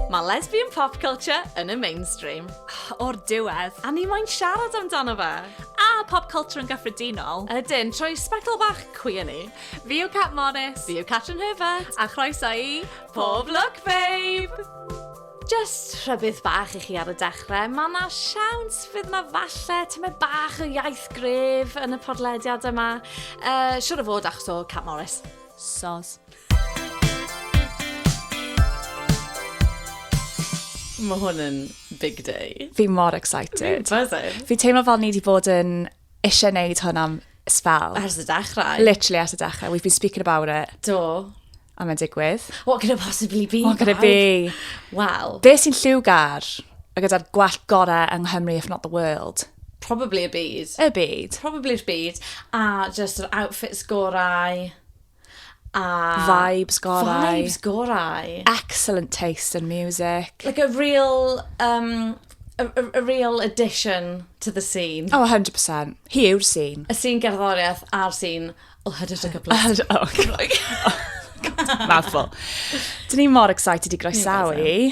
Mae lesbian pop culture yn y mainstream. O'r diwedd, a ni moyn siarad amdano fe. A pop culture yn gyffredinol. Ydyn, trwy sbectol bach cwi yn ni. Fi yw Cat Morris. Fi yw Catrin Herbert. A chroeso i Pob Look Babe! Jyst rhybudd bach i chi ar y dechrau, mae yna siawns fydd yna falle tymed bach o iaith gref yn y podlediad yma. Uh, siwr o fod achos o Cat Morris. Sos. Mae hwn yn big day. Fi mor excited. Fi teimlo fel ni wedi bod yn eisiau neud hwn am sbel. Ers y dechrau. Literally ers y dechrau. We've been speaking about it. Do. A mae'n digwydd. What could it possibly be? What could it be? Wel. Be sy'n lliwgar? A gyda'r gwell gorau yng Nghymru, if not the world. Probably y byd. Y byd. Probably'r byd. A just yr outfits gorau. A... Vibes gorau. Vibes gorau. Excellent taste in music. Like a real, um, a, a, a real addition to the scene. Oh, 100%. Hi yw'r scene. Y scene gerddoriaeth a'r scene o hydyd y gyfles. Oh, God. Mouthful. Dyn ni mor excited i groesawu.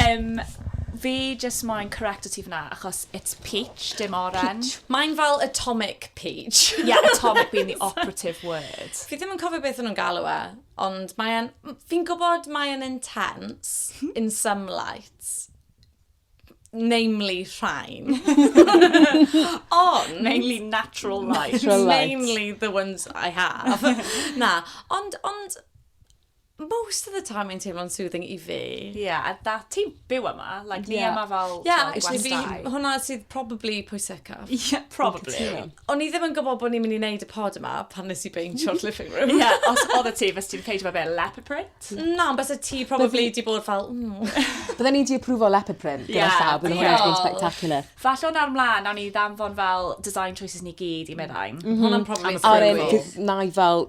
Yym, fi jyst moyn correcto ti fan'na, achos it's peach, dim oren. Peach. Mae'n fel atomic peach. Ie, atomic being the operative word. Fi ddim yn cofio beth o'n nhw'n galw e, ond mae e'n... Fi'n gwybod mae e'n intense in some lights, namely rhain, ond... Mainly natural lights. Mainly the ones I have. Na, ond, ond, most of the time mae'n teimlo'n soothing i fi. Ie, a da, ti'n byw yma, like, ni yma fel, Ie, actually fi, hwnna sydd probably pwysicaf. Ie, probably. O'n i ddim yn gwybod bod ni'n mynd i wneud y pod yma pan nes i beintio'r living room. Ie, os oedd y ti, fes ti'n peintio fe fel leopard print? Na, ond bys y ti probably di bod fel, Bydden ni di approval leopard print gyda llaw, bydden hwnna'n been spectacular. Falle o'n ar mlaen, nawn ni ddanfon fel design choices ni gyd i meddai. Hwnna'n probably... Ar un, na i fel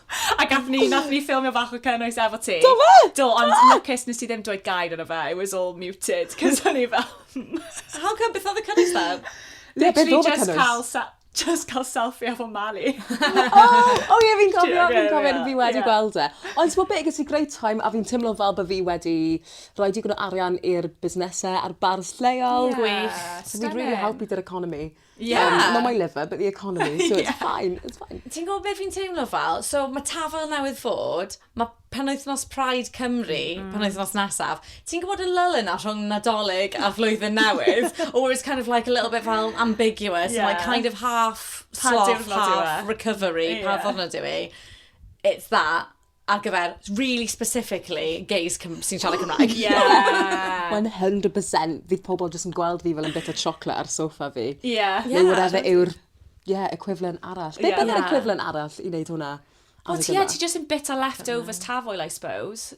A gath ni, nath ni ffilmio bach o cynnwys efo ti. Do fe? Do, ond lwcus nes ti ddim dweud gair yna fe. It was all muted, cos o'n i fel... How come, beth oedd y cynnwys fe? Literally just cael, just cael selfie efo Mali. o, o ie, fi'n cofio, fi'n cofio, fi wedi gweld e. Ond ti'n beth, gyda great time, a fi'n teimlo fel bod fi wedi rhoi digon o arian i'r busnesau a'r bars lleol. Gwych. So fi'n really helpu dy'r economi. Yeah. Um, not my liver, but the economy, so it's yeah. fine, it's fine. Ti'n gwybod beth fi'n teimlo fel? So mae tafel newydd fod, mae penwythnos Pride Cymru, mm. penwythnos nesaf, ti'n gwybod y lull yna rhwng Nadolig a Flwyddyn Newydd? or it's kind of like a little bit fel ambiguous, yeah. and like kind of half sloth, half recovery, yeah. pa ddwrnod yw i. It's that. ar gyfer, really specifically, gays sy'n siarad Cymraeg. Yeah! 100% fydd pobl jyst yn gweld fi fel yn bit o chocolate ar sofa fi. Yeah. Neu whatever yw'r yeah, equivalent arall. Beth yeah. bydd equivalent arall i wneud hwnna? Wel, ti, yeah, ti jyst yn bit o leftovers tafoel, I suppose.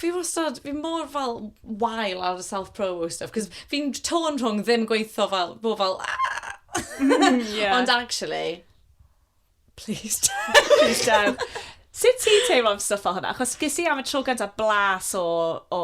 fi wastad, fi mor fel wael ar y self-promo stuff, cos fi'n tôn rhwng ddim gweithio fel, bo fel, ah! mm, yeah. ond actually, please don't. please don't. Sut ti'n teimlo am stuff o hwnna? Chos ges i am y tro gyntaf blas o, o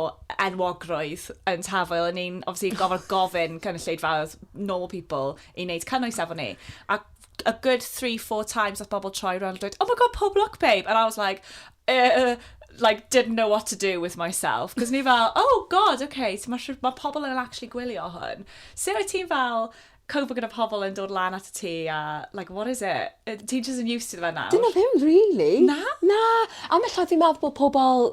enwogrwydd yn tafael yn ein, obviously, gofod gofyn cynulleidfaodd normal people i wneud cynnwys efo ni. A a good three, four times at bobl troi rownd a dweud, oh my god, pob lwc babe! And I was like, uh, like, didn't know what to do with myself. Cos ni fel, oh god, okay, so mae ma pobl yn actually gwylio hwn. Sut wyt ti'n fel, cope gyda pobl yn dod lan at y ti a, like, what is it? Ti'n just yn used to fe nawr? Dyna ddim really. Na? Na. Am y llaeth fi'n meddwl bod pobl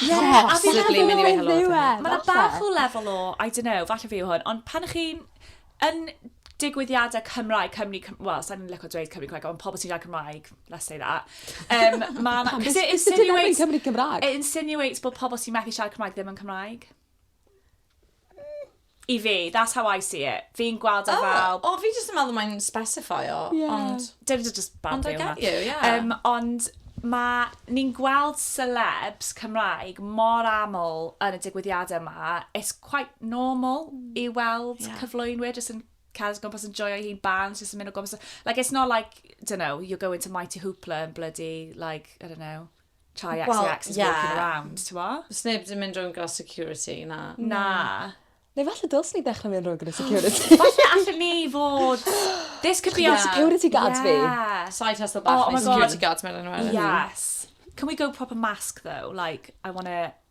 Ie, a fi'n meddwl bod e'n ddiwedd. Mae yna bach o lefel o, I don't know, falle fi yw hwn, ond pan chi'n yn digwyddiadau Cymraeg, Cymru, wel, sa'n ni'n lyco dweud Cymru Cymraeg, ond pobl sy'n dweud Cymraeg, let's say that. Um, ma, ma, it insinuates, Cymru Cymraeg. It insinuates bod pobl sy'n methu siarad Cymraeg ddim yn Cymraeg. I fi, that's how I see it. Fi'n gweld e oh, fel... O, oh, fi jyst yn meddwl mae'n specify o, yeah. ond... Dyn nhw just bad Ond I get you, yeah. Um, ond mae ni'n gweld celebs Cymraeg mor aml yn y digwyddiadau yma, it's quite normal hmm. i weld yeah. cyflwynwyr jyst yn cael ysgol pas yn joio hi'n bands, jyst yn mynd o gwmpas. Like, it's not like, don't know, you're going to Mighty Hoopla and bloody, like, I don't know, Chai XCX well, is yeah. walking around, ti'n mo? Os neb ddim mynd rhwng gael security, na. Na. Neu falle dylsyn ni ddechrau mynd rhwng gyda security. falle allan ni fod... This could be our security guards fi. Yeah. Side hustle bach oh, oh neu security guards mewn yn Yes. Can we go proper mask though? Like, I want to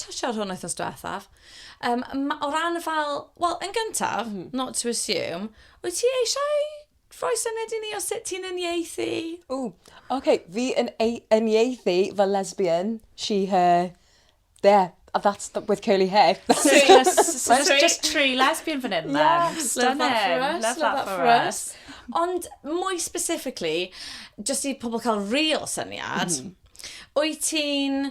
touch ar hwn wythnos diwethaf. Um, o ran fel, wel, yn gyntaf, mm. not to assume, wyt ti eisiau rhoi syniad i ni o sut ti'n uniaethu? O, oce, okay. fi yn uniaethu fel lesbian, she, her, there. A that's the, with curly hair. so just, so just, just true lesbian fan hyn, yeah, then. Stunning. Love that for us. Love, love that, that for us. us. Ond mwy specifically, just i pobl cael real syniad, mm. wyt ti'n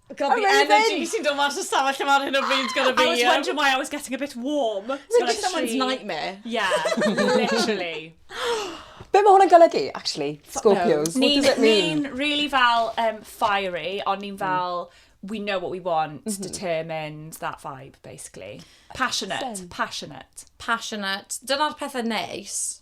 God, the energy sy'n dod mas o stafell lle ar hyn o bryd gyda fi. I was wondering why I was getting a bit warm. Mae'n just someone's nightmare. Yeah, literally. Be mae hwnna'n golygu, actually? Scorpios. What does it mean? Ni'n really fel um, fiery, ond ni'n mm. fel... Mm we know what we want, mm-hmm. determined, that vibe, basically. Passionate, Same. passionate. Passionate. Dyna'r pethau neis.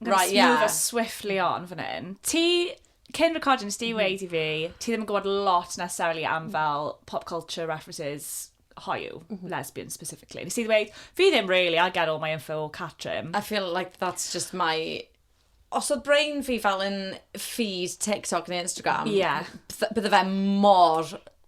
I'm right, yeah. move us swiftly on fan hyn. Ti, cyn recording, nes ti mm. weid i fi, ti ddim yn gwybod lot necessarily am fel pop culture references hoyw, mm -hmm. lesbian specifically. Nes ti ddweud, fi ddim really, I get all my info o Catrim. I feel like that's just my... Os oedd brain fi fel yn feed TikTok neu Instagram, yeah. bydde fe mor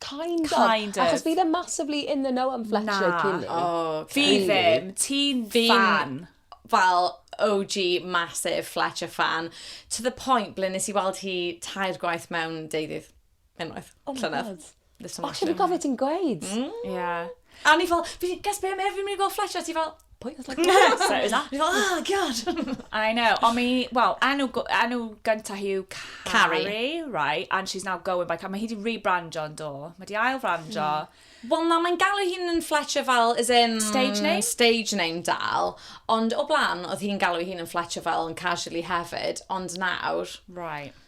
Kind of. Kind of. Achos fi ddim massively in the know am Fletcher Na. Kinney. Oh, Fi Really? ddim, ti'n Fi'n- fan. fel OG massive Fletcher fan, to the point ble nes i weld hi tair gwaith mewn deuddydd unwaith, Oh my llynedd. God. This time O, last ti'n year. gofio ti'n gweud? Ie. A o'n i fel, fi, guess be, Mary, fi'n mynd i gweld Fletcher. Ti fel, pwy oedd Fletcher? Fletcher is that? Fi fel, oh, god. I know. Ond mi, wel, enw, go- enw gyntaf hi yw Carrie. Carrie. right, and she's now going by Carrie. Mae hi di rebrandio yn do. Mae di ail frandio. Wel na, mae'n galw hi'n yn Fletcher fel, as in... Stage name? Stage name dal. Ond o blaen, oedd hi'n galw hi'n yn Fletcher fel yn casually hefyd. Ond nawr, Right.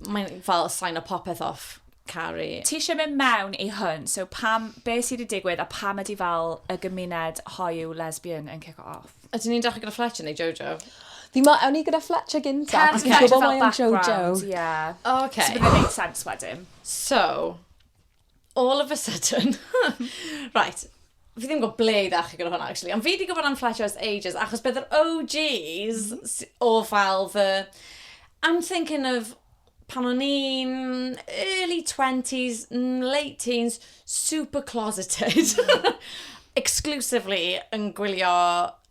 Mae'n fel sign o popeth off, caru. Ti eisiau mynd mewn i hwn, so pam, be sydd wedi digwydd a pam ydy fel y gymuned hoyw lesbian yn cico off? Ydyn ni'n dechrau gyda Fletcher neu Jojo? Fi mo, ewn ni gyda Fletcher gynta. Can Fletcher fel background, ie. O, okay. So bydd e'n neud sense wedyn. So, all of a sudden, right, fi ddim yn gwybod ble i ddechrau gyda hwnna, actually, ond fi wedi gwybod am Flash House ages, achos bydd yr OGs mm-hmm. o fel fy... I'm thinking of pan o'n i'n early 20s, late teens, super closeted, mm. exclusively yn gwylio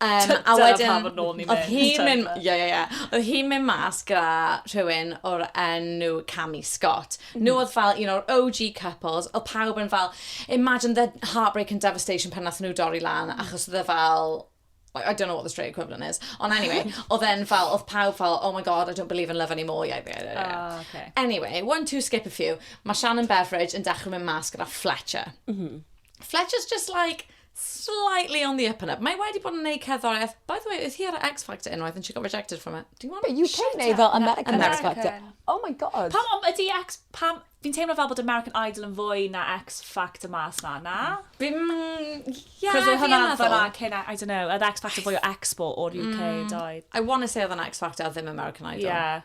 Um, a wedyn, pa fod nôl ni'n mynd. Oedd hi'n mynd, ie, ie, ie. Oedd hi'n mynd mas gyda rhywun o'r enw Cami Scott. Mm. Nhw oedd fel un o'r OG couples, oedd pawb yn fel, imagine the heartbreak and devastation pan nath nhw dorri lan, mm. achos oedd e fel, like, I don't know what the straight equivalent is. Ond anyway, oedd e'n fel, oedd pawb fel, oh my god, I don't believe in love anymore. Yeah, yeah, yeah, yeah. Oh, okay. Anyway, one, two, skip a few. Mae Shannon Beveridge yn dechrau mynd mas gyda Fletcher. Mm -hmm. Fletcher's just like, Slightly on the up and up. Mae wedi bod yn wneud cerddoriaeth. By the way, oedd hi ar y X Factor unwaith and she got rejected from it. Do you want Be UK Shut neu up. fel American American. X Factor? American. Oh my god. Pam ond ydi X... Pam... Fi'n teimlo fel bod American Idol yn fwy na X Factor mas na, na? Bim... Ie, Cos oedd fi yn hwnna meddwl. fyna cyn, I don't know, oedd X Factor fwy o expo o'r UK yn doedd? I want to say oedd yn X Factor a ddim American Idol. Ie.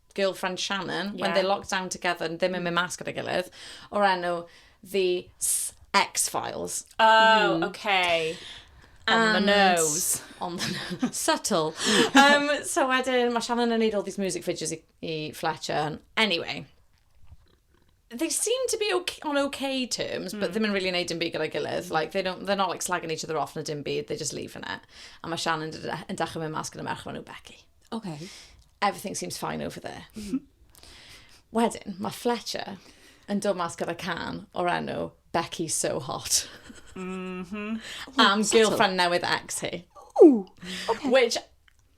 girlfriend Shannon, yeah. when they locked down together, ddim yn mynd mas gyda'i gilydd, o'r enw The X-Files. Oh, mm. okay. On and, the nose. On the nose. Subtle. um, so wedyn, mae Shannon yn neud all these music videos i, i Fletcher. Anyway, they seem to be okay, on okay terms, but mm. ddim yn really neud dim byd gyda'i gilydd. Mm. Like, they don't, they're not like slagging each other off na dim byd, they just leave in it. A mae Shan yn, yn dechrau mynd mas gyda merch fan nhw Becky. Okay. Everything seems fine over there. Mm. Wedyn, mae Fletcher yn dod mas gyda can o'r enw Becky's So Hot. Mm -hmm. Am girlfriend newydd ex hi. Ooh, okay. Which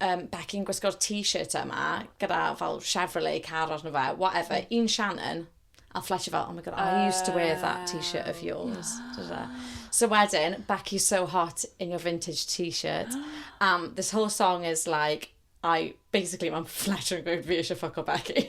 um, Becky'n gwisgo'r t-shirt yma, gyda fel Chevrolet car arno fe, whatever, mm. un Shannon, a Fletcher fel, oh my god, I used to wear that t-shirt of yours. Uh, so wedyn, Becky's so hot in your vintage t-shirt. Um, this whole song is like, I, basically, mae'n Fletcher yn gweud fi eisiau ffoco Becky.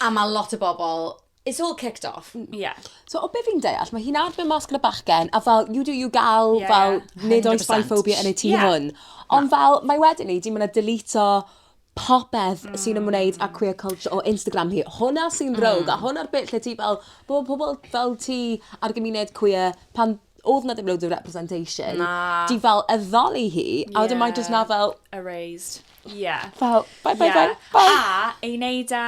A ma' lot o bobol, it's all kicked off. M- ie. So o be' fi'n deall ma' hi'n adfer mas gyda bachgen a fel you do you gal... Ie ie. ...fel nid oes biphobia yn y tŷ hwn. Ie. Na. Ond fel mae wedi 'ny 'di ma' 'na deleto popeth... Hmm. ...sy'n ymwneud â queer culture o Instagram hi. Hwnna sy'n rownd... Hmm. ...a hwnna'r bit lle ti fel bo' pobol fel ti a'r gymuned queer pan odd 'na ddim loads o representation... Na. ...ti fel addoli hi... Ie. ...a wedyn mae jyst 'na fel... Erased. Ie. Fel, bye bye bye bye. A, ei wneud e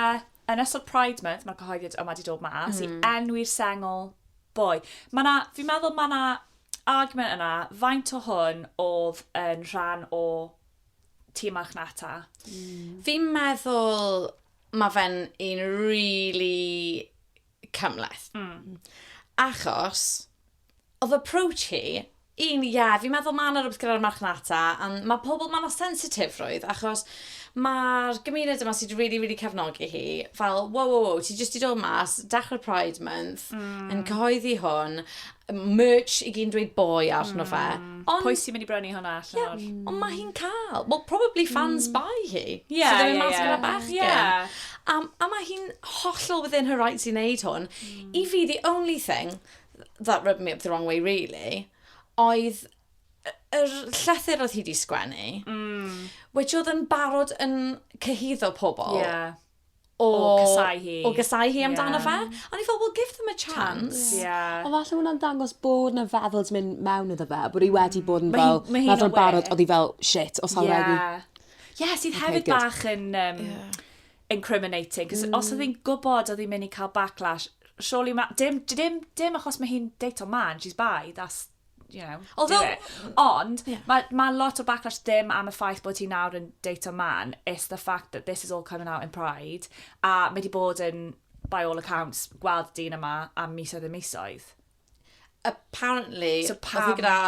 yn ystod Pride Month, mae'r cyhoeddiad yma wedi dod mas, mm. i enwi'r sengl boi. Mae na, fi'n meddwl mae na argument yna, faint o hwn oedd yn rhan o tîm marchnata? Mm. Fi'n meddwl mae fe'n un really cymhleth. Mm. Achos, oedd approach hi, un, ie, yeah, fi'n meddwl mae yna rhywbeth gyda'r marchnata, a mae pobl, mae yna sensitifrwydd, achos mae'r gymuned yma sydd wedi really, really cefnogi hi, fel, wow, wow, wow, ti jyst i dod mas, dechrau Pride Month, mm. yn cyhoeddi hwn, merch i gyn dweud boi allan o fe. Mm. Ond... Pwy sy'n mynd i brynu hwnna allan o'r... Yeah, ond mae hi'n cael. Wel, probably fans mm. bai hi. Ie, yeah, ie, ie. Mas gyda bachgen. Yeah. A, a mae hi'n hollol within her rights i wneud hwn. Mm. I fi, the only thing that rubbed me up the wrong way, really, oedd yr llythyr oedd hi wedi sgwennu, mm. which oedd yn barod yn cyhyddo pobl. Yeah. o, o casau hi. O casau hi amdano yeah. fe. Ond i fel, well, give them a chance. Yeah. Ond falle hwnna'n dangos bod na feddwl mynd mewn iddo fe, bod hi wedi bod yn fel, meddwl yn barod, oedd hi fel, shit, os hawr yeah. regi. Yeah, sydd okay, hefyd good. bach yn... Um, yeah incriminating. Cos mm. os oedd hi'n gwybod oedd hi'n mynd i cael backlash, surely ma... Dim, dim, dim achos mae hi'n deito man, she's bi, that's you know, Although, do it. Ond, yeah. mae ma lot o backlash ddim am y ffaith bod ti nawr yn data man, it's the fact that this is all coming out in pride, a mae di bod yn, by all accounts, gweld dyn yma am misoedd y misoedd. Apparently, so pam... oedd gyda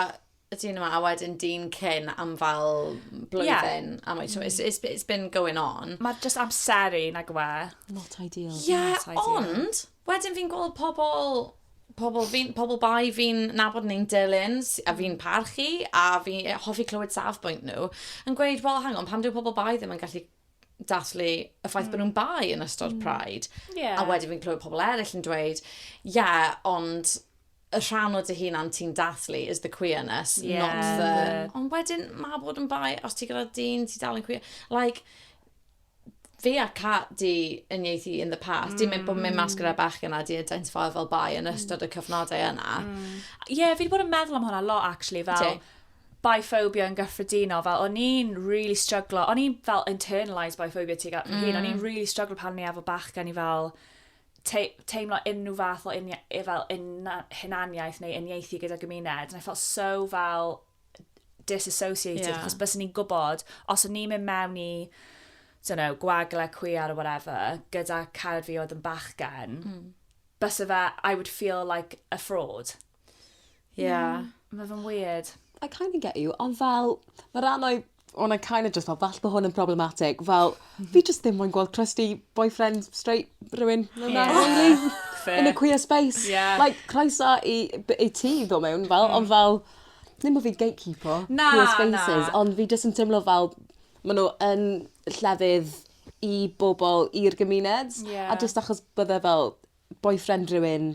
y dyn yma, a wedyn dyn cyn am fel blwyddyn. Yeah. Am, so it's, it's, it's been going on. Mae just amseru, na gwe. Not ideal. Yeah, not ideal. ond... Wedyn fi'n gweld pobl, pobl fi'n, pobl bai fi'n nabod neu'n dilyn a fi'n mm. parchu a fi'n e, hoffi clywed safbwynt nhw yn gweud, wel, hang on, pam dyw pobl bai ddim yn gallu dathlu y ffaith mm. bod nhw'n bai yn ystod mm. Pride. Yeah. A wedyn fi'n clywed pobl eraill yn dweud, ie, yeah, ond y rhan o dy hunan ti'n dathlu is the queerness, yeah. not the... Ond wedyn, mae bod yn bai, os ti gyda dyn, ti dal yn queer. Like, fi a Cat di yn ieithu in the past. Mm. Di mynd bod mynd mas gyda bechgyn a di identifio fel bai yn ystod y mm. cyfnodau yna. Mm. Ie, yeah, fi wedi bod yn meddwl am hwnna lot, actually, fel... Ti? biphobia yn gyffredinol, fel o'n i'n really struggle, o'n i'n fel internalised biphobia ti gael mm. o'n i'n mm. really struggle pan ni efo bach gen i fel te teimlo unrhyw fath o unia, e, fel un hunaniaeth neu uniaethu gyda gymuned, and I felt so fel disassociated, yeah. chos bys ni'n gwybod, os o'n ni'n mynd mewn i, don't know, gwagle cwiar or whatever, gyda cared fi oedd yn bachgen, mm. bys fe, I would feel like a fraud. Yeah. Mm. Mae fe'n weird. I kind of get you, ond fel, mae rhan o'i when I kind of just thought falle bo hwn yn problematic fel fi jyst ddim moyn gweld crusty boyfriend straight rywun fel 'na rili. Fair. In a queer space. Ie. Like croeso i b- i ti ddo' mewn fel ond fel ddim bo' fi'n gatekeepo... Na na. ...queer spaces ond fi jyst yn timlo fel ma' n'w yn llefydd i bobol i'r gymuned. Ie. A jyst achos bydde fel boyfriend rhywun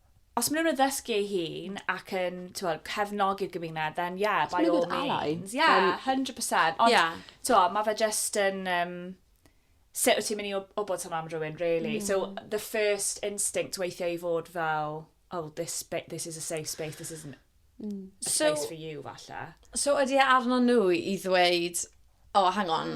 Os maen nhw'n addysgu ei hun ac yn, ti'n cefnogi'r gymuned, then yeah, by all means. Yeah, 100%. Ond, yeah. ti'n mae fe just yn... Um, sut wyt ti'n mynd i wybod hwnna am rhywun, really? Mm. So, the first instinct weithiau i fod fel, oh, this, this is a safe space, this isn't mm. a so, space for you, falle. So, ydy e arno nhw i ddweud, oh, hang on,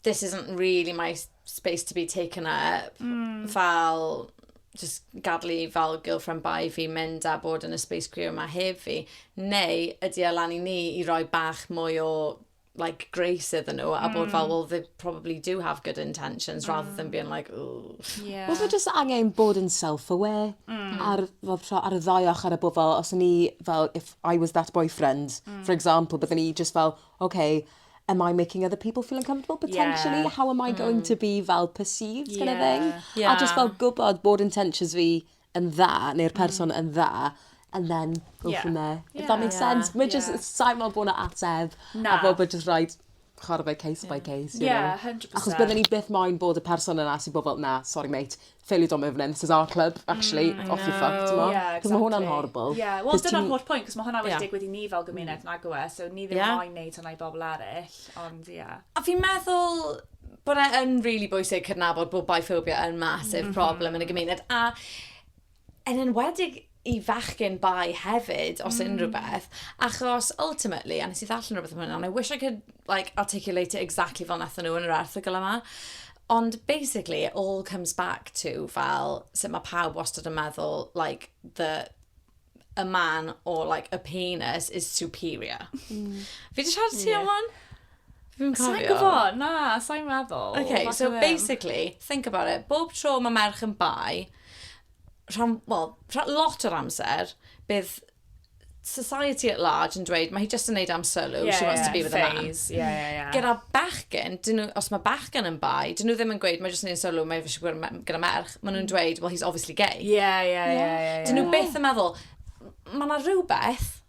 this isn't really my space to be taken up. Mm. Fel, just gadw i fel girlfriend bai fi mynd a bod yn y space queer yma hef fi. Neu, ydy e lan i ni i roi bach mwy o like grace iddyn nhw a bod fel, hmm. well, they probably do have good intentions mm. rather than hmm. being like, ooh. Yeah. Os mae jyst angen bod yn self-aware mm. ar, fel, ar y ddau ochr a bod fel, os ni fel, if I was that boyfriend, mm. for example, byddwn ni just fel, okay, am I making other people feel uncomfortable potentially? Yeah. How am I going mm. to be fel perceived yeah. kind of thing? Yeah. A just fel gwybod bod intentions fi yn dda, neu'r mm. person mm. yn dda, and then go yeah. from there. Yeah. If that makes yeah. sense. Mae yeah. just, sa'n meddwl bod yna ateb, Na. a bod bod just right, chwarae by case yeah. by case, you yeah, know. 100%. Achos byddwn ni byth moyn bod y person yna sy'n bod fel, na, sorry mate, fail you don't move in, this is our club, actually, mm, off you fuck, ti'n mo? Yeah, exactly. Cos mae hwnna'n horrible. Yeah, wel, dyna'r holl pwynt, cos mae hwnna wedi yeah. digwydd i ni fel gymuned, mm. nag yw e, so ni ddim yeah. moyn neud hwnna i bobl eraill, ond ie. Yeah. A fi'n meddwl, bod e'n really bwysig cydnabod bod biphobia yn massive mm -hmm. problem yn y gymuned. A yn enwedig i fachgyn bai hefyd, os mm. unrhyw beth, achos ultimately, a nes i ddarllen rhywbeth am hwnna, and I wish I could like, articulate it exactly fel nath nhw yn yr erthigol yma, ond basically it all comes back to fel sut mae pawb wastad yn meddwl like the a man or like a penis is superior. Mm. Fi wedi siarad ti yeah. am hwn? Fi'n cofio. Sa'n gwybod, na, sa'n meddwl. Okay, so basically, think about it. Bob tro mae merch yn bai, rhan, well, rhan, lot o'r amser, bydd society at large yn dweud, mae hi jyst yn neud am sylw, yeah, she wants yeah, to be with phase. a man. Yeah, yeah, yeah. Gyda bachgen, nhw, os mae bachgen yn bai, dyn nhw ddim yn gweud, mae jyst yn neud sylw, mae eisiau gwrdd gyda merch, maen nhw'n mm. dweud, well, he's obviously gay. Yeah, yeah, yeah. yeah, yeah. Dyn nhw byth yn meddwl, mae yna rhywbeth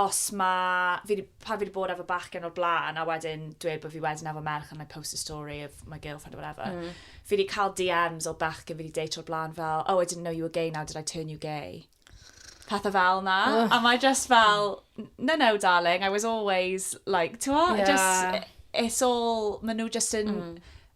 Os mae, fi 'di, pan fi 'di bod efo bachgen o'r blaen a wedyn dweud bod fi wedyn efo merch and I post a story of my girlfriend or whatever, mm. fi 'di cael DMs o bachgen fi 'di date o'r blaen fel, oh, I didn't know you were gay now, did I turn you gay? pethau fel na. Oh. A mae just fel, no, no, darling, I was always, like, ti'n yeah. just, it's all, maen nhw just yn... Mm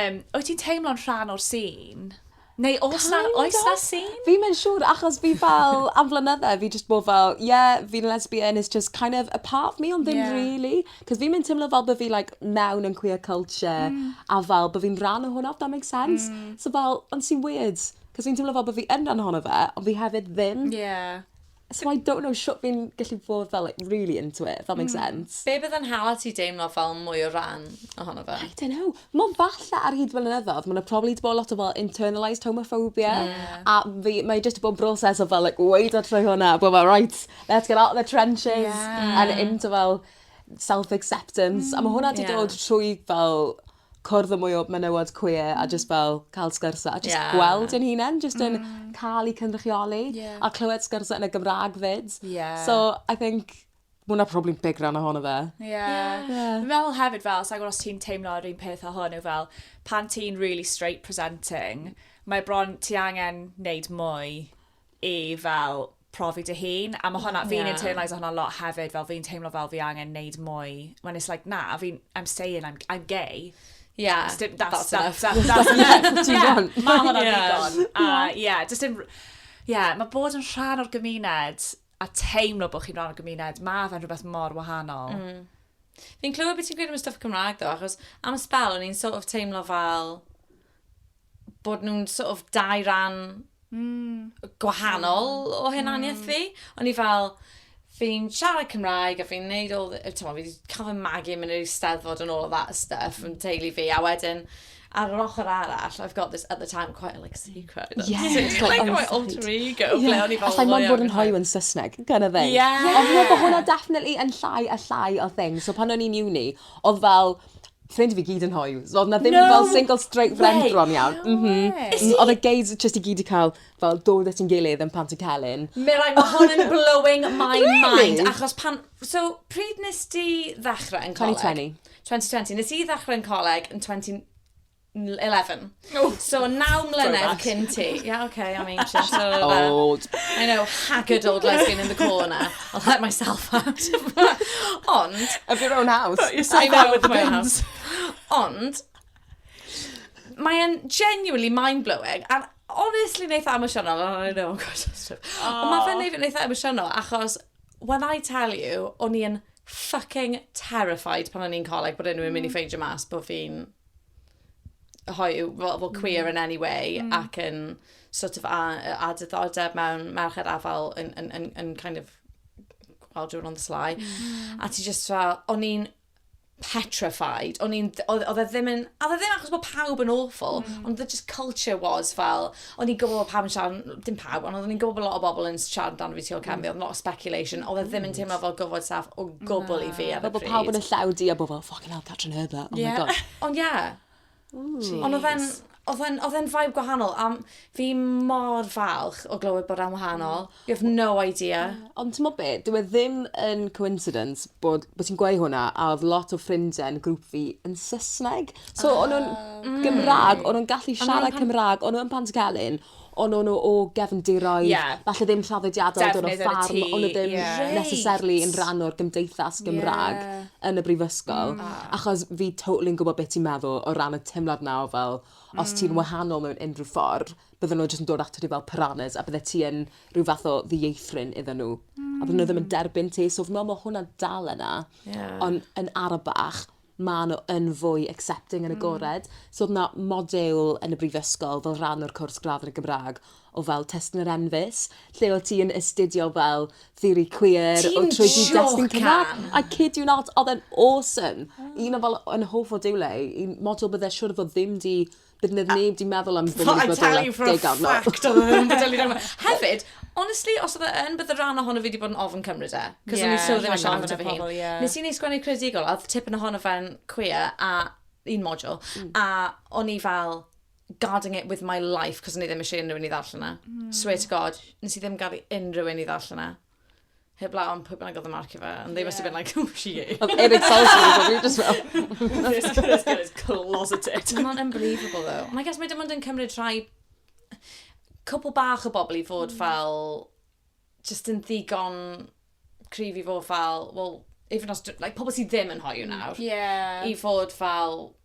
Yym, wyt ti'n teimlo'n rhan o'r sîn? Neu oes 'na, Kind oes 'na of. sîn? Fi ddim yn siŵr achos fi fel, am flynydde fi jyst bod fel, ie, fi'n lesbian, it's just kind of a part of me ond ddim Ie. rili. 'C'os fi'm yn teimlo fel bo' fi like mewn yn queer culture a fel bo' fi'n rhan o hwnna if that makes sense. So fel, ond sy'n weird 'c'os fi'n teimlo fel bo' fi yn rhan ohono fe ond fi hefyd ddim. Ie. So I don't know shwt fi'n gallu bod fel like really into it, if that makes mm. sense. Be bydd yn hala ti deimlo fel mwy o ran ohono fe? I don't know. Mae'n falle ar hyd fel ynyddodd, mae'n probably di bod lot o fel internalised homophobia. Yeah. A fi, mae just bod yn broses o fel like, wait a trwy hwnna, bod fel right, let's get out of the trenches yeah. and into fel self-acceptance. Mm, a mae hwnna di yeah. dod trwy fel cwrdd â mwy o menywod queer a jyst fel cael sgyrsiau a jyst gweld ein hunain jyst yn cael eu cynrychioli a clywed sgyrsiau yn y Gymraeg 'fyd. So I think ma' hwnna probably'n big rhan ohono fe. Ie. Fi'n meddwl hefyd fel, sa i'n gwybod os ti'n teimlo yr un peth â hwn, yw fel pan ti'n really straight presenting, mae bron ti angen wneud mwy i fel profi dy hun, a mae hwnna, fi'n internalise hwnna lot hefyd, fel fi'n teimlo fel fi angen neud mwy, when it's like, na, fi'n, I'm saying I'm, I'm gay. Yeah, that's, dim, that's, that's, that's, that's, that's enough. yeah, mae hwnna'n ddigon. A, yeah, just dim, yeah, mae bod yn rhan o'r gymuned a teimlo bod chi'n rhan o'r gymuned, mae fe'n rhywbeth mor wahanol. Mm. Fi'n clywed beth ti'n gweud am y stuff Cymraeg ddo, achos am y spel, o'n i'n sort of teimlo fel, bod nhw'n sort of dau ran mm. gwahanol mm. o hunaniaeth mm. fi. O'n i fel, fi'n siarad Cymraeg a fi'n neud all, ti'n fi wedi cael fy magu mynd i'r eisteddfod and all of that stuff yn teulu fi, a wedyn, ar yr ochr arall, I've got this at the time quite like secret. Yeah. It's like, like my alter ego. Yeah. Ble o'n i fel... Allai mo'n bod yn hoiw yn Saesneg, gan y thing. Yeah. Ond yeah. bod hwnna definitely yn llai a llai o thing. So pan o'n i'n uni, oedd fel, Ffrind i fi gyd yn hoyw. So oedd 'na ddim fel No single straight friend way! bron iawn. No M-hm. way! Is M- he? Oedd y gays jyst i gyd 'di cael fel dod at 'yn gilydd yn Pant y Celyn. Mirai, ma' hwn yn blowing my Really? mind achos pan... So, pryd nes di ddechrau yn coleg? 2020. 2020. Nes i ddechrau yn coleg yn 20... 11. Oh, so, naw mlynedd cyn ti. Yeah, okay, I'm ancient. So, old. I know, haggard old lesbian in the corner. I'll let myself out. Ond... Of your own house. But yourself I know, of my own house. Ond, mae'n genuinely mind-blowing. And honestly, neitha emosiynol. Oh, I know, I'm quite sensitive. Ond mae fe'n neud neitha emosiynol, achos when I tell you, o'n i'n fucking terrified pan o'n i'n coleg bod unrhyw'n mynd i mm. ffeindio mas bod fi'n hoyw, fel, fel queer mm. in any way, mm. ac yn sort of a, a diddordeb mewn merched afal yn, yn, yn, yn kind of well, doing on the sly. Mm. A ti just fel, o'n i'n petrified. O'n i'n, oedd e ddim yn, oedd e ddim achos bod pawb yn awful, mm. ond the just culture was fel, o'n i'n gwybod pawb yn siarad, dim pawb, ond o'n i'n gwybod bod lot o bobl yn siarad amdano fi tu ôl cefn fi, oedd lot o speculation, oedd e ddim yn teimlo fel gofod staff o gwbl i fi ar y pryd. Fel bod pawb yn y llew di a bod fel, fucking hell, Catrin Heather, oh yeah. my god. Ond ie. Yeah. Ond oedd e'n, oedd e'n vibe gwahanol, a fi mor falch o glywed bod e'n wahanol. Mm. You have no idea. Ond t'mod be'? Dyw e ddim yn coincidence bod bo' ti'n gweu' hwnna a odd lot o ffrindie yn grŵp fi yn Sysneg. So o'n nw'n... Ah. ...yn Gymra'g o'n nw'n gallu siarad Cymra'g o'n n'w yn Pantycelyn on' o'n n'w o gefndiroedd... Ie. ...falle ddim traddodiadol o dod o ffarm... Defnydd yn y tŷ. ...o'n n'w ddim... Ie. ...reit. ...necessarily yn ran o'r gymdeithas Gymra'g... Ie. ...yn y brifysgol. Hmm. Ah. Achos fi totally yn gwbo be' ti'n meddwl o ran y teimlad 'na o fel os ti'n wahanol mewn unryw ffor bydden nhw jyst yn dod ato ti fel piranhas a bydde ti yn rhyw fath o ddieithryn iddyn nhw. Mm. A bydden nhw ddim yn hmm. derbyn ti. So fy mlaen, mae hwnna dal yna. Yeah. Ond yn arabach, mae nhw yn fwy accepting yn y hmm. gored. Mm. So oedd yna modul yn y brifysgol fel rhan o'r cwrs gradd yn y Gymraeg o fel testyn yr enfus, lle oedd ti yn astudio fel theori queer, o trwy di destun Cymraeg. I kid you not, oedd e'n awesome. Mm. Un o fel yn hoff o diwle, un modul bydde siwr fod ddim di Bydd nid neb di meddwl am ddim yn gwybod o'r degawd nawr. I tell you for a fact, oedd e ddim yn bodoli rhan Hefyd, honestly, os oedd e yn, bydd y rhan ohono fi wedi bod yn ofn cymryd e. Cos yeah, o'n i so ddim yn siarad amdano fy hun. Yeah. Nes i neud sgwennu credigol, a oedd tipyn ohono fe'n queer, a un module, mm. a o'n i fel, guarding it with my life, cos o'n i ddim eisiau unrhyw un i ddarllen yna. Mm. Swear to God, nes i ddim gael i unrhyw un i ddarllen yna. heblaw am pwy bynnag oedd yn marcio fe, and they must have been like, who is she? Oedd Eric Salzman yn gwybod, just fel. This girl is closeted. Mae'n unbelievable, though. Ond I guess mae dim ond yn cymryd rhai cwpl bach o bobl i fod mm. fel just yn ddigon cryf i fod fel, well, even os, like, pobl sydd ddim yn hoiw mm. nawr, yeah. i fod fel,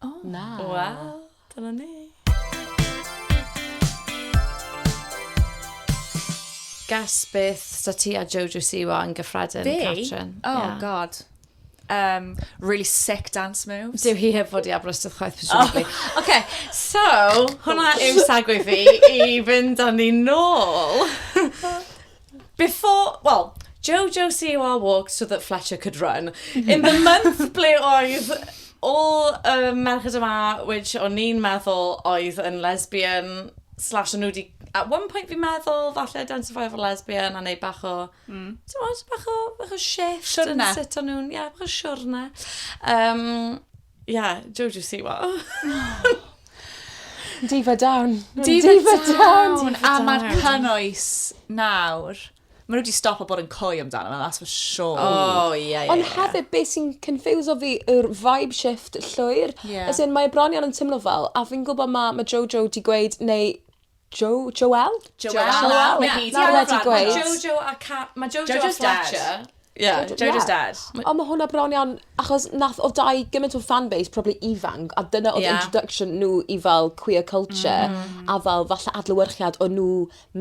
O! Na! Wel, dyna ni. Guess beth sa ti a Jojo Siwa yn gyffredin, Fi? Catrin? Oh, yeah. god. Um, really sick dance moves. Dyw hi heb fod i Aberystwyth chwaith, presumably. Oh. OK, so, hwnna yw sagwy fi i fynd â ni nôl. Before, well, Jojo COR walked so that Fletcher could run. In the month ble oedd all y uh, merched yma, which o'n i'n meddwl oedd yn lesbian, slash o'n nhw wedi at one point fi'n meddwl, falle identify fel lesbian a neud bach o, mm. ti'n bach o, bach o shift siwrne. yn sut o'n nhw'n, ie, yeah, bach o siwrne. Um, Yeah, Joe, do you see what? Diva down. Diva, Diva down. down. A mae'r cynnwys nawr. Mae nhw wedi stop o bod yn coy amdano, that's for sure. Oh, ie, yeah, ie. Ond yeah, hefyd, beth sy'n confuse o fi yw'r vibe shift llwyr. Yeah. As in, mae bron iawn yn teimlo fel, a fi'n gwybod mae ma Jojo wedi gweud, neu Jo, Joel? Joel. Joel. Mae hi nawr wedi gweud. Mae Jojo a Ca... Mae Jojo a Jojo's dad. Fletcher. Yeah, Jojo- Jojo's ie. dad. O, mae hwnna bron iawn, achos nath, oedd dau gymaint o fanbase, probably ifanc, a dyna oedd Ie. introduction nhw i fel queer culture, a fel falle adlewyrchiad o nhw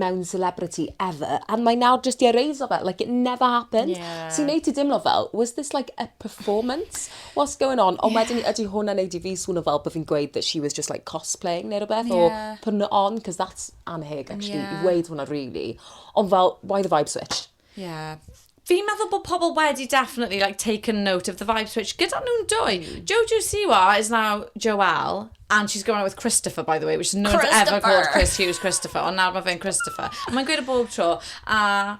mewn celebrity ever, a mae nawr jyst di ereiso fe, like it never happened. Ie. Sy'n neud ti dimlo fel, was this like a performance? what's going on? Ond wedyn ni, ydy hwnna'n neud i fi swno fel bod fi'n gweud that she was just like cosplaying neu rhywbeth yeah. or putting it on, because that's anheg actually, yeah. i weud hwnna really. Ond fel, why the vibe switch? Yeah. Fi'n meddwl bod pobl wedi definitely like taken note of the vibe switch gyda nhw'n dwy. Mm. Jojo Siwa is now Joelle and she's going out with Christopher by the way which is no one's ever called Chris Hughes Christopher ond nawr mae fe'n Christopher. Mae'n gweud y bob tro a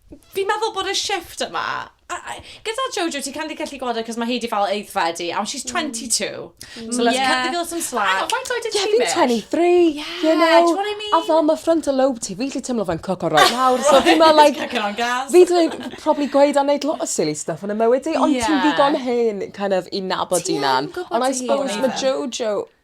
Fi'n meddwl bod y shift yma, gyda Jojo, ti'n kind of gallu gweld e, cos mae hi di fel aeddfedu, and she's 22. Mm. So let's yeah. cut the girl some slack. Hang on, faint oed yeah, fi'n 23, yeah, you know. Do you what I mean? A fel mae frontal lobe ti, fi'n lli teimlo fe'n coco right nawr. So fi'n meddwl, like, fi dwi'n probably gweud a wneud lot o silly stuff yn y mywyd i, ond yeah. ti'n ddigon hen, kind of, i nabod i nan. Ond I suppose mae Jojo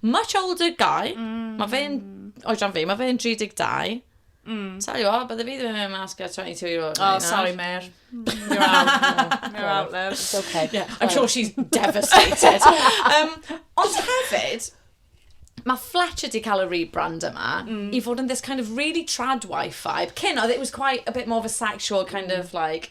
Much older guy. Mm. Mae fe'n oedran fi, mae fe'n 32. Mm. Tell you what, bydde fi ddim yn mynd mas gyda 22 year old. Oh, sorry, Mer. You're out. You're out, love. It's okay. Yeah, I'm sure she's devastated. um, ond hefyd, mae Fletcher di cael y rebrand yma mm. i fod yn this kind of really trad wife vibe. Cyn, oedd it was quite a bit more of a sexual kind mm. of like...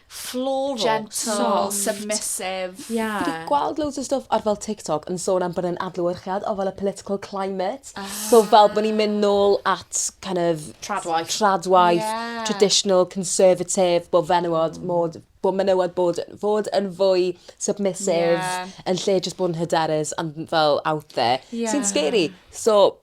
floral, gentle, soft, submissive. Ie. Fi 'di gweld loads o stwff ar fel TikTok yn sôn am bod e'n adlewyrchiad o fel y political climate. Ah. So fel bo' ni'n mynd nôl at kind of... Tradwaith. Tradwaith. Ie. Traditional, conservative, bo' fenywod mm. mod bod menywod bod, fod yn fwy submissive yeah. yn lle jyst bod yn hyderus and fel out there. Yeah. Sy'n scary. So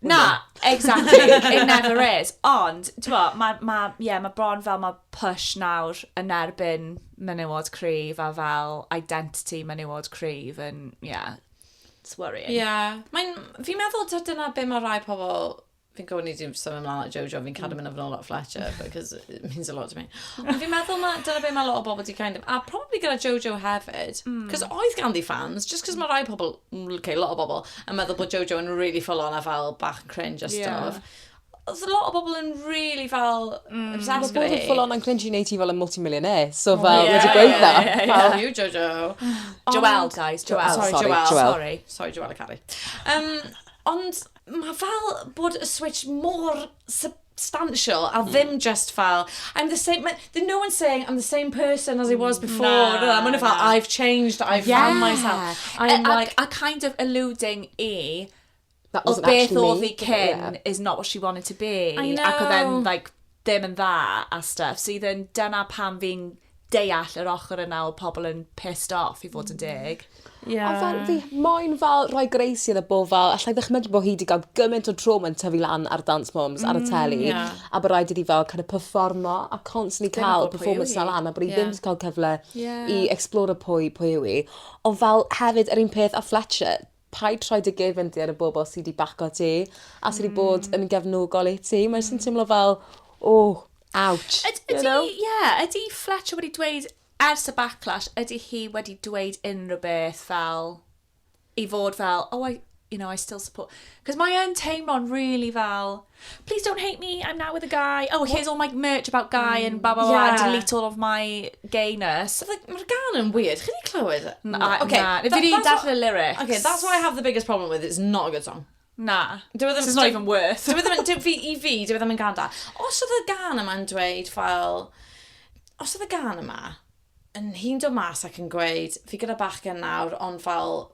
Na, exactly, it never is. Ond, ti'n bod, mae ma, yeah, ma bron fel mae push nawr yn erbyn menywod cryf a fel identity menywod cryf yn, yeah, it's worrying. Ie, yeah. mae'n, fi'n meddwl ta dyna be mae rhai pobl, fi'n gwybod ni ddim symud ymlaen at Jojo, fi'n cadw mm. mynd yn ôl at Fletcher, because it means a lot to me. Ond fi'n meddwl ma, dyna be mae lot o bobl di kind of, a probably gyda Jojo hefyd, because mm. oedd ganddi fans, just because mae rhai pobl, okay, lot o bobl, yn meddwl bod Jojo yn really full on a fel bach yn cringe a stuff. Yeah. Oedd a lot o bobl yn really fel mm. obsessed gyda hi. Mae bod yn full on yn cringe i wneud hi fel yn multi-millionaire. So oh, fel, wedi gweud na. How you, Jojo? Joelle, guys. Joelle. Sorry, sorry, Joelle. Sorry. Sorry, Joelle a Carrie. Um, ond mae fel bod y switch mor sub substantial a ddim jyst fel I'm the same, mae... There's no one saying I'm the same person as I was before. Na, na. Mae nhw fel I've changed, I've found myself. I'm like... A kind of alluding i That wasn't actually me. Oedd beth oedd hi cyn is not what she wanted to be. I know. Ac oedd e'n like ddim yn dda a stuff. So i ddim, dyna pam fi'n deall yr ochr yna o pobl yn pissed off, i fod yn deg. Yeah. Ond fel, fi moyn fel rhoi greisi iddo bo fel, allai ddychmygu bod hi wedi cael gymaint o trauma yn tyfu lan ar Dance Moms mm, ar y mm, teli, yeah. a bod rhaid iddi fel kind of performo a constantly Dyna cael performance fel lan, a bod hi yeah. ddim wedi cael cyfle yeah. i explore pwy, pwy yw i. Ond fel hefyd, yr un peth a Fletcher, Paid rhoi dy gefndir y bobl sy 'di baco ti a sy 'di bod yn gefnogol i ti. Mae jyst yn teimlo fel o, ouch. Yd- ydi... You know? ...ie, ydi Fletcher wedi dweud ers y backlash, ydi hi wedi dweud unrhyw beth fel i fod fel, oh I, you know, I still support... 'Cos mae yn teimlo'n rili fel please don't hate me, I'm now with a guy. Oh, here's all my merch about guy and blah, blah, blah, yeah. delete all of my gayness. Like, Mae'r gan yn weird. Chi'n ei clywed? Na, okay, na. Fi wedi darllen y lyrics. Okay, that's what I have the biggest problem with. It's not a good song. Na. Dwi e ddim... It's not even worth. Dwi e ddim... Dwi, fi, I fi, dwi e ddim yn gan da. Os oedd y gan yma'n dweud fel... Os oedd y gan yma, yn hi'n dod mas ac yn gweud, fi gyda bachgen nawr, ond fel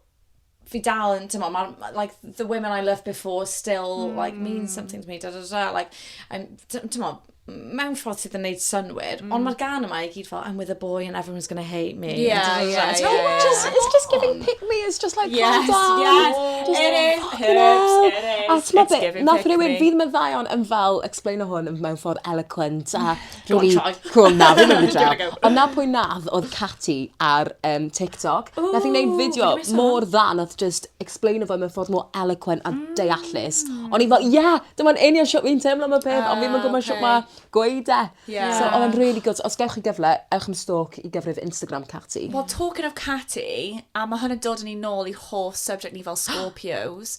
fi dal yn, ti'n ma, like, the women I loved before still, mm. like, mean hmm. something to me, da da da, like, I'm, ti'n ma, mewn ffordd sydd yn neud synwyr, mm. ond hmm. mae'r gan yma i gyd fel, I'm with a boy and everyone's going to hate me. Yeah, da, da, da, yeah, yeah, yeah. Just, it's just giving pick me, it's just like, yes, calm down. Yes, just, it is, oh, it is, it is. A ti'n ma bit, nath rhywun, fydd mae ddaion yn fel, explain o hwn mewn ffordd eloquent, a Go on Charlie. Go on na fi'm yn mynd draw. Ond 'na pwy nath odd Cati ar yym TikTok. Ww. Nath 'i neud fideo mor dda nath jyst explaino fo mewn ffordd mor eloquent a deallus. Hmm. O'n i fel ie dyma'n union shwt fi'n teimlo am y peth on' fi'm yn gwbo shwt ma gweud e. Ie. So odd e'n rili good so os gewch chi gyfle ewch am stalk i gyfrif Instagram Cati. Wel talking of Cati a ma' hwn yn dod â ni nôl i hoff subject ni fel Scorpios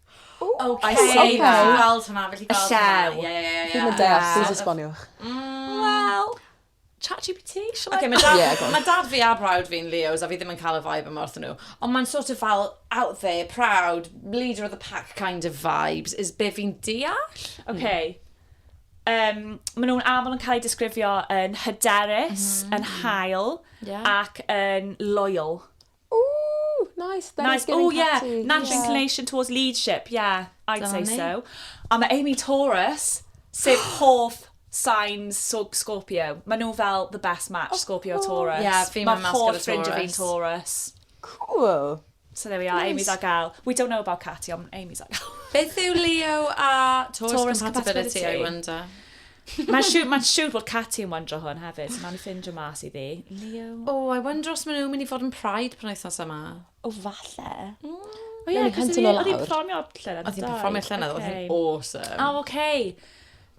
Oh, I see that. Fi gweld hwnna, fi gallu gweld hwnna. Ie, ie, ie, ie. Fi'm yn deall, please esboniwch. Wel, chat GPT, shall I? Okay, mae dad, ma dad fi a brawd fi'n Leos a fi ddim yn cael y vibe yma wrth nhw. Ond mae'n sort of fel out there, proud, leader of the pack kind of vibes, is be fi'n deall. Okay. Um, maen nhw'n aml yn cael eu disgrifio yn hyderus, mm. yn hael, yeah. ac yn loyal. Ooh, nice. That nice. Oh, yeah. Natural yeah. inclination towards leadership. Yeah, I'd Dyna say ni. so. A mae Amy Taurus, sef hoff signs so Scorpio. Mae nhw fel the best match, oh, Scorpio Taurus. Yeah, fi'n mynd mas gyda Taurus. Mae hoff Taurus. Cool. So there we are, nice. Amy's a gal. We don't know about Katy, ond Amy's a gal. Beth yw Leo a Taurus, Taurus compatibility, compatibility, I wonder? Mae'n siwr, ma siwr bod Katy yn wyndro hwn hefyd, so mae'n ffindio mas i ddi. Leo? O, oh, I wonder os maen nhw'n mynd i fod yn Pride pan wythnos yma. O, falle. Mm. O ie, cos oedd hi'n perfformio llynedd. Oedd hi'n perfformio llynedd, oedd hi'n awesome. O, oh, okay.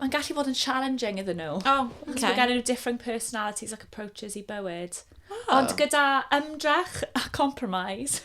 Mae'n gallu bod yn challenging iddyn nhw. O, oh, okay. Mae gen nhw different personalities ac approaches i bywyd. Oh. Ond gyda ymdrech a compromise.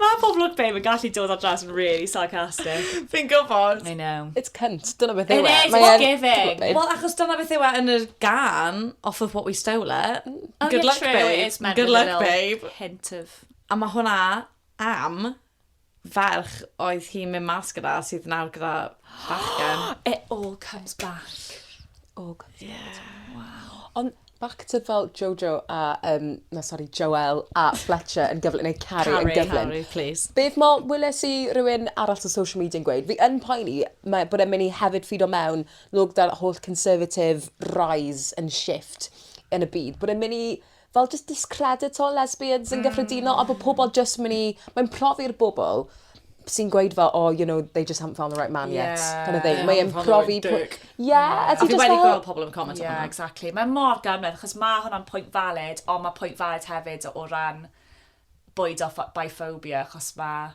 Mae poblog babe yn gallu dod ar draws yn really sarcastic. Fi'n gwybod. I know. It's cunt, dyna beth yw e. It is, it's not giving. Wel, achos dyna beth yw e yn yr gan, off of what we stole it. Oh, Good luck, babe. Good luck, babe. Hint of... A mae hwnna am ferch oedd hi'n mynd mas gyda sydd nawr gyda bachgen. It all comes back. All comes back. Yeah. Wow. Ond back to fel Jojo a, um, na sori, Joel a Fletcher yn gyflym, neu Carrie, Carrie yn gyflym. Carrie, please. Beth mo, wyles i rhywun arall o social media yn gweud, fi yn poeni mae, bod e'n mynd i hefyd ffid o mewn lwg da'r holl conservative rise and shift yn y byd, bod e'n mynd i fel jyst discredito lesbians yn gyffredinol a bod pobl jyst mynd i... Mae'n profi'r bobl sy'n gweud fel, oh, you know, they just haven't found the right man yet. Yeah. Kind of thing. Mae'n profi... Yeah. A fi wedi gweld pobl yn comment yeah. hwnna, exactly. Mae mor ganredd, achos mae hwnna'n pwynt valid, ond mae pwynt valid hefyd o ran bwyd o biphobia, achos mae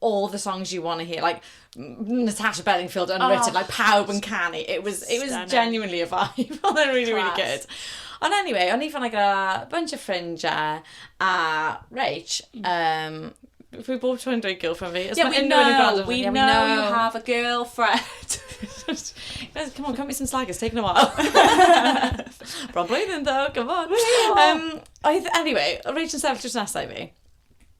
all the songs you want to hear, like Natasha Bedingfield Unwritten, oh, like pawb yn canu. It was, it was genuinely a vibe. Oedd e'n really, really good. Ond anyway, o'n i fan ag a bunch of ffrindiau a Rach, mm. um, Fi bob tro'n dweud girlfriend fi. Yeah, we know, we, yeah, we know, know you have a girlfriend. Guys, come on, cut me some slack, it's taken a while. Bron blwyddyn ddo, come on. Um, oedd, anyway, Rach yn sefyll drws nesau fi.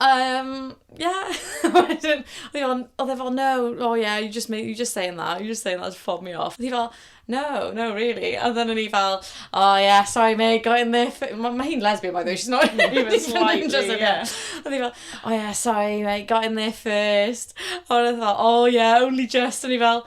Um, yeah. oedd e fel, no, oh yeah, you just, you just saying that, you just saying that to fob me off. Oedd hi fel, no, no, really. A then o'n i fel, oh yeah, sorry mate, got in there. Mae ma hi'n lesbian, by the way, she's not even slightly, yeah. Oedd hi fel, oh yeah, sorry mate, got in there first. A oedd fel, oh yeah, only just. O'n i fel,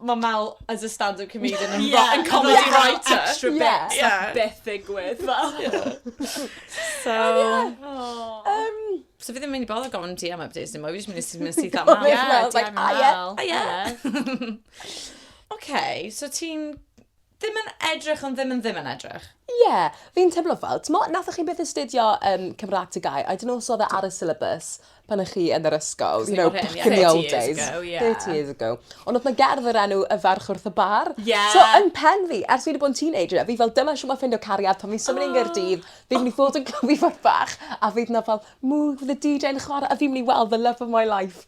mae Mel as a stand-up comedian yn yeah, yn comedy yeah, writer. Extra bit, yeah. yeah. beth ddigwydd. so, oh. um, so fi ddim mynd i bod o gofyn DM updates dim mwy, fi ddim mynd i mynd syth am Mel. Yeah, like, ah, yeah. Ah, yeah. okay, so ti'n Ddim yn edrych ond ddim yn ddim yn edrych. Ie, fi'n teimlo fel, t'mo' nathoch chi byth astudio yym Cymra'g Tŷ Gau, I don't know os odd e ar y syllabus pan o' chi yn yr ysgol, you know, back in the old days. Thirty years ago, ie. Thirty years ago. Ond odd 'na gerdd o'r enw Y Ferch Wrth y Bar. Ie! So yn pen fi, ers fi 'di bo' yn teenager, fi fel dyma shwt ma' ffindo cariad pan fi'n symud i Nghaerdydd, fi myn' i fod yn clymu fach a fydd 'na fel mwg fydde DJ yn chware a fi myn' i weld the love of my life.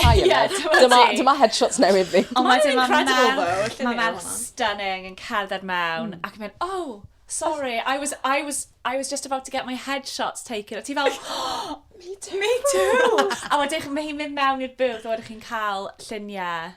Hi Aned. Dyma, dyma headshots newydd fi. Ond wedyn mae incredible though. Mae fel stunning yn cerdded mewn mm. ac yn mynd, oh, sorry, I was, I was, I was just about to get my headshots taken. A ti fel, oh, me too. Me too. a wedyn mae hi'n mynd mewn i'r booth a wedyn chi'n cael lluniau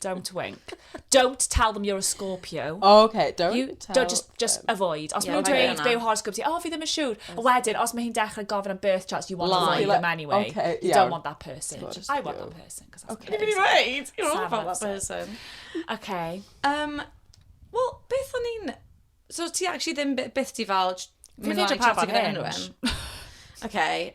Don't wink. Don't tell them you're a Scorpio. Oh, okay, don't you, tell don't just, just them. avoid. Os yeah, maen nhw'n dweud be yw horoscope ti, oh, fi ddim yn siŵr. A wedyn, os mae hi'n dechrau gofyn am birth charts, you want to lie them anyway. Okay, you yeah. don't want that person. Just I want you. that person. Okay. Can you be right? You don't want that person. Okay. Um, well, beth o'n i'n... So ti actually ddim beth ti fel... Fi ddim yn pa fan hyn. Okay.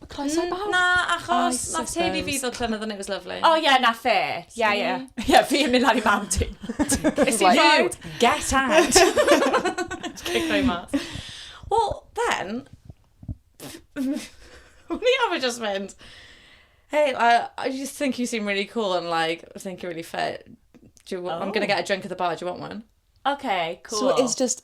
Mae croeso i bawb. Na, achos I nath teulu fi suppose. ddod llynedd and it was lovely. O ie, na fe. Ie, ie. Ie, fi yn mynd lan i mam ti. Is he You, right? get out! Just kick my mas. Wel, then, o'n i arfer jyst mynd, Hey, I, I just think you seem really cool and like, I think you're really fit. Do you, I'm going to Oh. get a drink at the bar, do you want one? Oce, cŵl. So it's just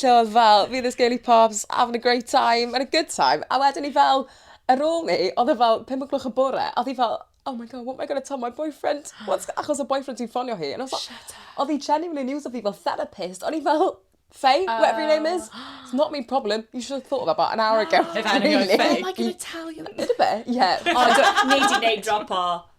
Lle oedd fel, fi this girly pops, having a great time, and a good time. A wedyn i fel, ar ôl ni, oedd e fel 5 o gloch y bore, a oedd hi fel, oh my god, what am I going to tell my boyfriend? What's... achos oedd boyfriend hi'n ffonio hi. And I was like... Shut up. Oedd hi genuinely yn iwsio fi fel therapist. O'n i fel, Faye, uh... whatever your name is, it's not my problem. You should have thought of that about an hour ago. If anything, Faye. What am I going to tell you? Did a bit, yeah. Ond, nei di name dropo.